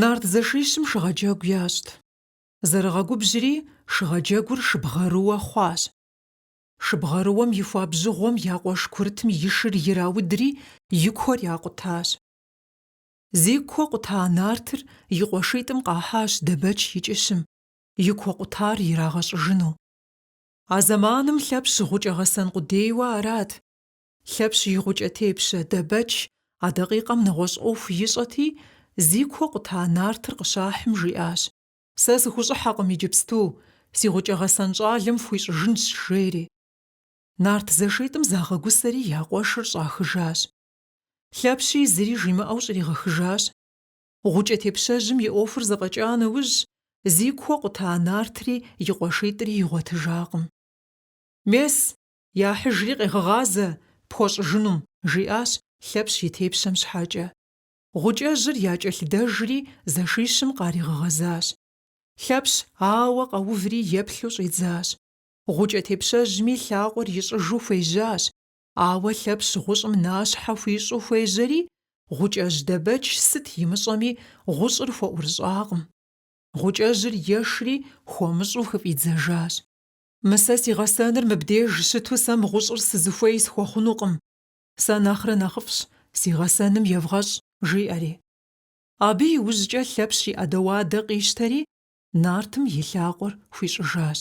Нарт зэшищым шыгъэджэгу ящӏт. Зэрыгъэгубжьри, шыгъэджэгур шыбгъэрыуэ хъуащ. Шыбгъэрыуэм и хуабжьыгъуэм я къуэш курытым и шыр ираудри, и куэр якъутащ. Зи куэ къута нартыр и къуэшитӏым къахьащ Дэбэч и кӏыщым, и куэ къутар ирагъэщӏыжыну. А зэманым Лъэпщ гъукӏэ гъэсэн къудейуэ арат. Лъэпщ и гъукӏэ тепщэ Дэбэч а дакъикъэм нэгъуэщӏ ӏуэху ищӏэти, зи куэ къута нартыр къыщахьым, жиӏащ, Сэ сыхущӏыхьэкъым иджыпсту, си гъукӏэ гъэсэн щӏалэм фхуищӏыжынщ, жери. Нарт зэшитӏым загъэгусэри я къуэшыр щӏахыжащ. Лъэпщи зыри жимыӏэу щӏригъэхыжащ. Гъукӏэ тепщэжьым и ӏуэхур зэфӏэкӏа нэужь, зи куэ къута нартри и къуэшитӏри игъуэтыжакъым. Мес, Яхьыжри къегъэгъазэ, пхуэщӏыжынум, жиӏащ Лъэпщ и тепщэм щхьэкӏэ. Гъукӏэжьыр якӏэлъыдэжри зэшищым къаригъэгъэзащ. Лъэпщ ауэ къэуври еплъу щӏидзащ. Гъукӏэ тепщэжьми лъакъуэр ищӏыжу хуежьащ, ауэ Лъэпщ гъущӏым нащхьэ хуищӏу хуежьэри, Гъукӏэжь Дэбэч сыт имыщӏэми гъущӏыр хуэӏурыщӏакъым. Гъукӏэжьыр ешри хуэмыщӏу хыфӏидзэжащ. Мы сэ си гъэсэныр мыбдеж щыту сэ мы гъущӏыр сызыхуей схуэхъунукъым. Сэ нэхърэ нэхъыфӏщ, си гъэсэным евгъэщӏ, жиӏэри. Абы иужькӏэ Лъэпщ и ӏэдэуадэ къищтэри, нартым и лъакъуэр хуищӏыжащ.